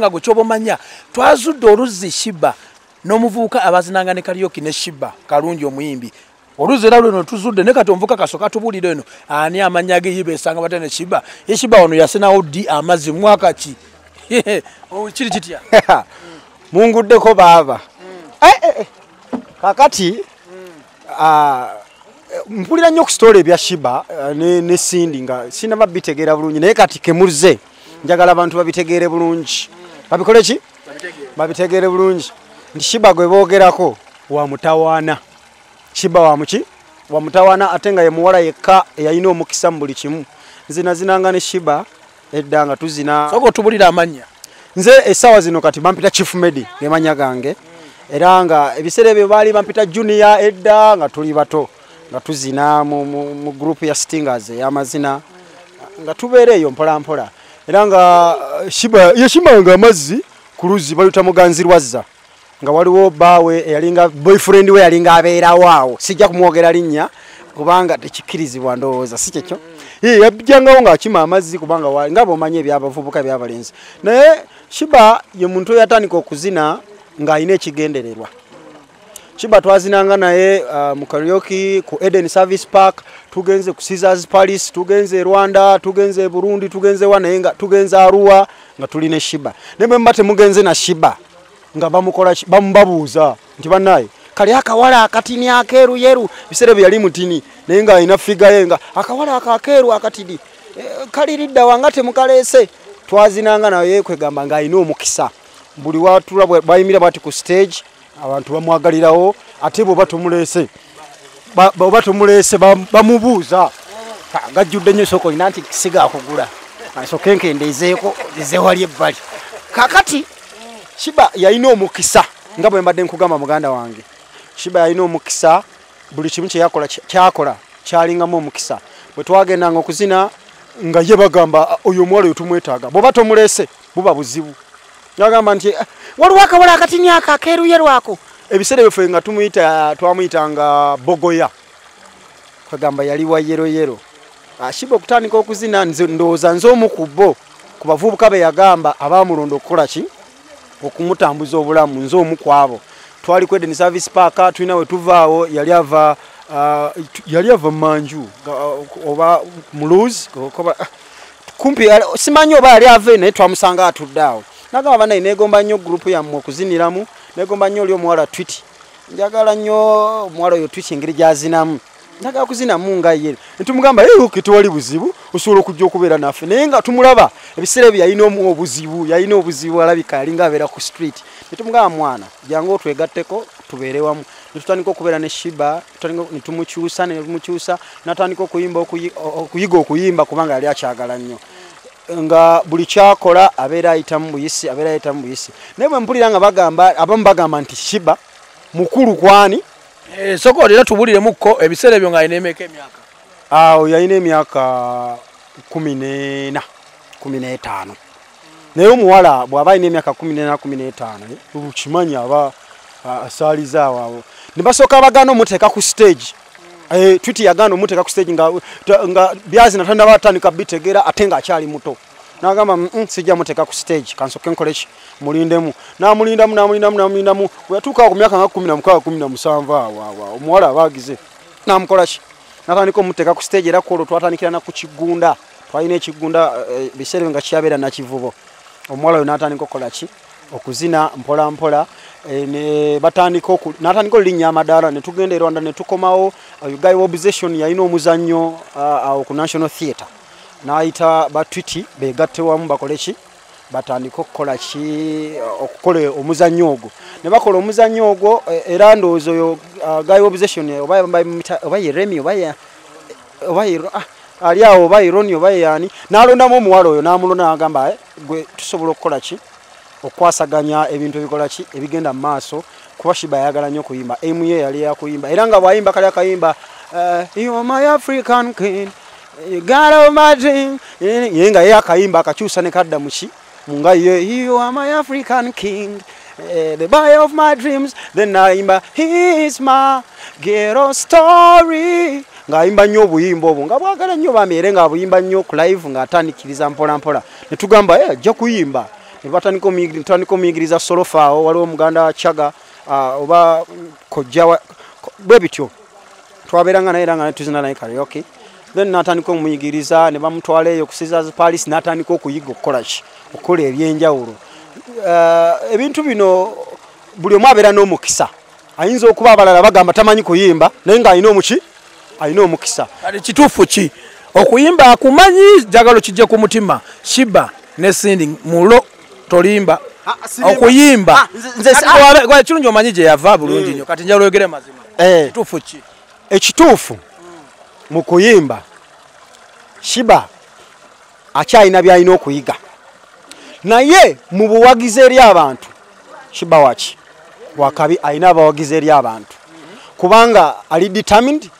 nga gwekyoba omanya twazudde oluzzi shiba n'omuvubuka abazinanga ne kaliyoki ne shiba kalungi omuyimbi oluzzi era lweno tuzudde ne kati omuvuka kasoka tubulire eno ani amanya ge yiba esanga bata ne shiba ye shiba ono yasinawo ddi amazzi mwaka ki oh, kiri kitya munguddeko baaba mm. eh, eh, eh. kakati Ah, mpulira nnyo ku sitoola ebya shiba eh, ne, ne sindi nga sinaba bitegeera bulungi naye kati kemuzze njagala abantu babitegeere bulungi babikole ki babitegeere bulungi nti shiba gwe boogerako wa mutawaana shiba wa muki wa mutawaana ate nga ye muwala yekka eyalina omukisa mu buli kimu nzinazinanga ne shiba edda nga tuzina soka otubulira amanya nze esawa zino kati bampita chief medi gemanya gange era nga ebiseera ebyo baali bampita junior edda nga tuli bato nga tuzina mu, mu, mu group ya stingers eyamazina nga tubeera eyo mpolampola era nga eh, shimanga amazzi ku luzzi bayuta muganzirwazza nga waliwo baawe eyalinga boyfriend we yalinga abeerawo awo sijja kumwogera linnya kubanga tekikkirizibwa ndowooza si kyekyo yajjangawo ng'akima amazzi kubanga waali nga bwomanyi ebyabavubuka ebyabalenzi naye shiba ye muntu eyatandika okuzina ng'alina ekigendererwa shiba twazinanga naye uh, mu karioki ku eden service park tugenze ku caesars palace tugenze e rwanda tugenze e burundi tugenze wa naye nga tugenze aruwa nga tuli ne shiba naye bwe muba temugenze na shiba nga bamukola bamubabuuza nti banaye kali akawala akatini akeeru yeru biseera bye yali mutini naye nga alina figa ye nga akawala ako akeeru akatini e, eh, kali lidda wanga temukaleese twazinanga naye kwegamba nga alina omukisa buli watula bayimira bati ku stage abantu bamwagalirawo ate bwoba tumuleese oba tumuleese bamubuuza gajjudde nyo soko ina nti sigakugula asoke nkendeezeeko zewali ebbali kakati shiba yalina omukisa nga bwe mbadde nkugamba muganda wange shiba yalina omukisa buli kimu kyeyakola kyakola kyalingamu omukisa bwe twagendanga okuzina nga ye bagamba oyo omuwala oyo tumwetaaga bweoba tomuleese buba buzibu nagamba nti eh, waliwo akawola akatini ako akeeruye lwako ebiseera ebyo fe nga tumuyita twamuyita nga bogoya kwegamba yali wa yeroyero ashiba ah, okutandika okuzina ndowooza nze omu ku bo ku bavubuka be yagamba abaamulonda okukola ki okumutambuza obulamu nze omu ku abo twali ku edeni service park tulina we tuvaawo yali ava ah, yali ava manju ah, oba muluzi kumpi simanyi oba yali ave naye twamusanga atudde awo nagamba banaye negomba nnyo gurupu yammwe okuziniramu negomba nnyo oli omuwala twiti njagala nnyo omuwala oyo twiti engeri gyazinamu njagala kuzinamu nga ye netumugamba yeyuki tewali buzibu osobola okujja okubeera naffe naye nga tumulaba ebiseera ebyo yalina omu obuzibu yalina obuzibu alabika alinga abeera ku street netumugamba mwana jangu otwegatteko tubeere wamu netutandika okubeera ne shiba netumukyusa netumukyusa natandika okuyimba okuyiga okuyimba kubanga yali akyagala nnyo nga buli kyakola abeera ayitamu buyisi abeera ayitamu buyisi naye bwe mpulira nga bagamba abamu bagamba nti shiba mukulu kwani eh, soka olina tubuliremukko ebiseera ebyo nga alina emeka emyaka awo yalina emyaka kumi nena kumi n'etaano naye omuwala bw'aba alina emyaka kumi nena kumi n'etaano okimanyi aba asaaliza awawo ne basooka bagaana omuteeka ku siteegi eh, twiti yagaana omuteeka ku siteegi nga byazi natanda batandika bitegeera ate ng'akyali muto nagamba mm, mm, sijja muteeka ku siteegi kansooke nkoleki mulindemu namulindamu namulindamu namulindamu weyatuukaa ku myaka nga kumi na mukaaga kumi na musanvu awawa omuwala abaagize namukolaki natandika omuteeka ku siteegi era kwolwo twatandikira na ku kigunda twalina ekigunda eh, biseera nga kyabeera nakivubo omuwala oyo natandika okukola ki okuzina mpola mpola eh, ne batandika oku natandika olinya amadara ne tugenda Rwanda ne tukomawo uh, guy obsession yalina omuzanyo uh, awo ku National Theatre naayita ba twiti begatte wamu bakole ki batandika okukola ki uh, okukola omuzanyo ogwo ne bakola omuzanyo ogwo eh, era ndowooza oyo guy obsession oba oba ye Remy oba ye oba ah, ali awo oba ironi oba yani nalondamu omuwala oyo namulonda nagamba eh, gwe tusobola okukola ki okwasaganya ebintu ebikola ki ebigenda mu maaso kuba shiba yayagala nnyo okuyimba emu ye yali yakuyimba era nga bwayimba kali akayimba eh, my african kin gala omati ye nga ye akayimba akakyusa ne kadda muki Munga ye you are my African king eh, the boy of my dreams then naimba he's my ghetto story ng'ayimba nnyo obuyimba obwo nga bwagala nnyo bambi era ng'abuyimba nnyo ku live ng'atandikiriza mpolampola ne tugamba e ajja kuyimba ne batandika omuyigiriza solofaawo waliwo muganda wa chaga ah, oba kojja bwe bityo twabeeranga naye era nga netuzina naye karyoki then natandika omuyigiriza ne bamutwala eyo ku Caesars Palace natandika okuyiga okukola ki okukola ebyenjawulo uh, ebintu bino buli omu abeera n'omukisa ayinza okuba abalala bagamba tamanyi kuyimba naye ng'alina omuki alina omukisa kati kituufu ki okuyimba akumanyi jagalo kijja ku mutima shiba ne sindi mulo tolimba ah, ah, okuyimba ah, kirungi omanyi gye yava bulungi nyo mm. kati njala oyogere mazima eh. kituufu ki ekituufu mu kuyimba shiba akyalina byalina okuyiga naye mu buwagizi eri abantu shiba waki wakabi alina abawagizi eri abantu kubanga ali determined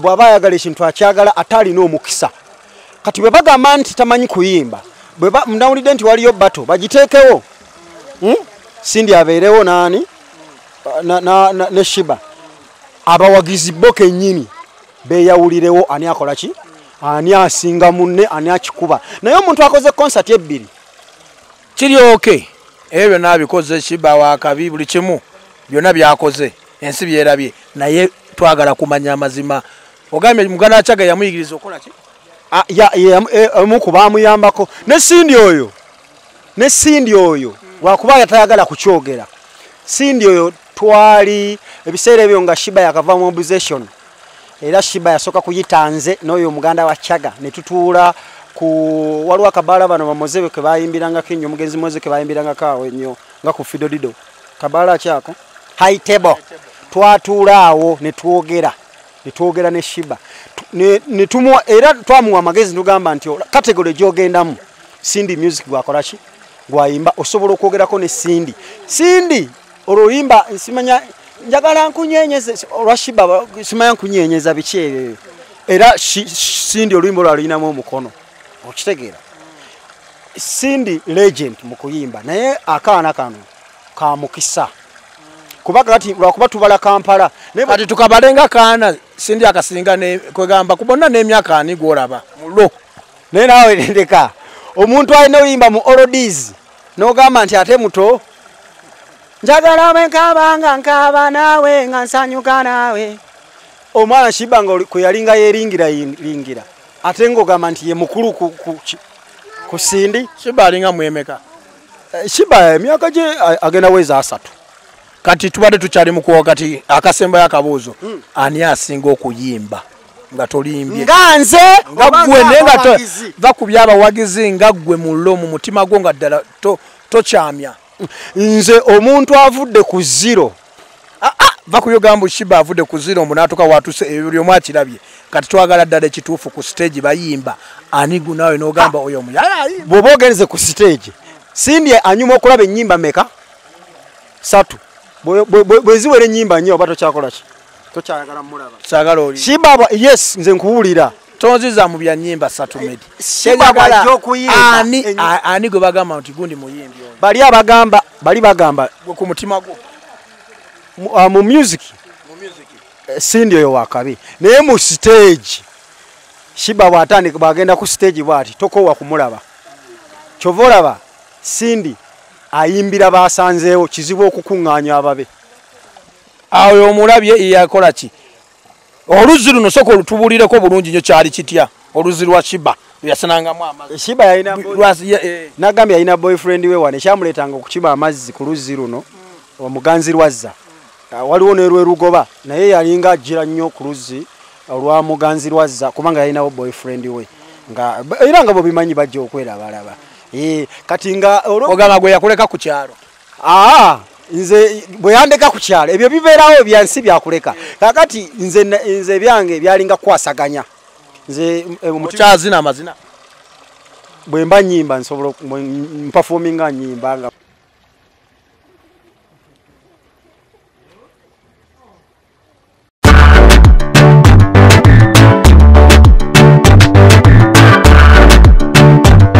bwaba ayagala ekintu akyagala ate alina omukisa kati bwe bagamba nti tamanyi kuyimba bwemnawulidde nti waliyo bato bagiteekewo hmm? sindi abeerewo naani ne shiba abawagizi bo kenyini beyawulirewo ani akola ki ani asinga munne ani akikuba naye omuntu akoze konsati ebbiri kiri oke ebyo byonna abikoze kiba wakabi buli kimu byonna byakoze ensi byerabye naye twagala kumanya amazima ogambye muganda akyaga yamuyigiriza okukola ki ah, e, omu ku baamuyambako ne sindi oyo ne sindi oyo lwakuba yatayagala kukyogera sindi oyo twali ebiseera ebyo nga shiba yakava mu obsession era shiba yasooka kuyita nze n'oyo omuganda wa chaga ne tutuula ku waliwo akabaala bano bamozebe ke bayimbirangako ennyo omugenzi moze ke bayimbirangako awo ennyo nga ku fidodido kabaala akyako high table twatuula awo ne twogera ne twogera ne shiba ne tumuwa era twamuwa amagezi nogamba nti kategole gyogendamu sindi music gwakolaki gwayimba osobola okwogerako ne sindi sindi olwo luyimba nsimanya njagala nkunyenyeza olwa shiba simanya nkunyenyeza biki ebyo era sindi oluyimba olwo aluyinamu omukono okitegeera sindi legend mu kuyimba naye akaana kano kamukisa kuba kati lwakuba tubala kampala kati tukabale nga kaana sindi akasinga kwegamba kubonna n'emyaka ani gwolaba mulo naye nawe leka omuntu alina oluyimba mu olodies n'ogamba nti ate muto njagala bwe nkaaba nga nkaaba naawe nga nsanyuka naawe omwana shiba nga kwe yalinga yeeringira lingira ate ng'ogamba nti ye mukulu ku sindi shiba alinga mwemeka eh, shiba emyaka gye agenda wezi asatu kati tubadde tukyali mukuwa kati akasembayo akabuuzo hmm. ani asinga okuyimba nga tolimbye nga nze nga gwe naye nga va ku byabawagizi nga gwe mu lo mu mutima gwo nga ddala tokyamya nze omuntu avudde ku ziro ah, ah, va ku yogambo shiba avudde ku ziro mbu natuka watuse ebyo buli omu akirabye kati twagala ddala ekituufu ku siteegi bayimba anigu naawe n'ogamba oyo omuyaya bw'oba ogenze ku siteegi sindi anyuma okulaba ennyimba meka satu bweziwera enyimba nyo oba tokyakolaki tokyayagala mulaba sagala oli shibaba yes nze nkuwulira tonziza mu bya nyimba satu eh, medi shibaba jokuyimba ani ani gwe bagamba nti gundi muyimbi oyo bali abagamba bali bagamba gwe ku mutima gwo mu uh, music mu music eh, sindi oyo wakabi naye mu stage shiba bwatandika bagenda ku stage bwati tokowa kumulaba kyova olaba sindi ayimbira baasanzeewo kizibu okukuŋŋaanya ababe awo omulabye yakola ki oluzzi luno soka olutubulireko bulungi nyo kyali kitya oluzzi lwa shiba yasanangamu amaziiba eh. nagambye yalina boyfriend we wano ekyamuleetanga okukiba amazzi ku luzzi luno omuganzi lwazza ah, waliwo nelwerugoba naye yalinga ajjira nnyo ku luzzi olwa muganzi lwazza kubanga yalinawo boyfriend we era nga bwebimanyi bajja okwerabalaba Eh, kati nga ogamba gwe yakuleka ku kyalo aa nze bwe yandeka ku kyalo ebyo bibeerawo ebyansi byakuleka kakati nze nze ebyange byalinga kukwasaganya nze eh, mukyazina amazina bwe mba nyimba nsobola mpafominga nyimba nga Thank you.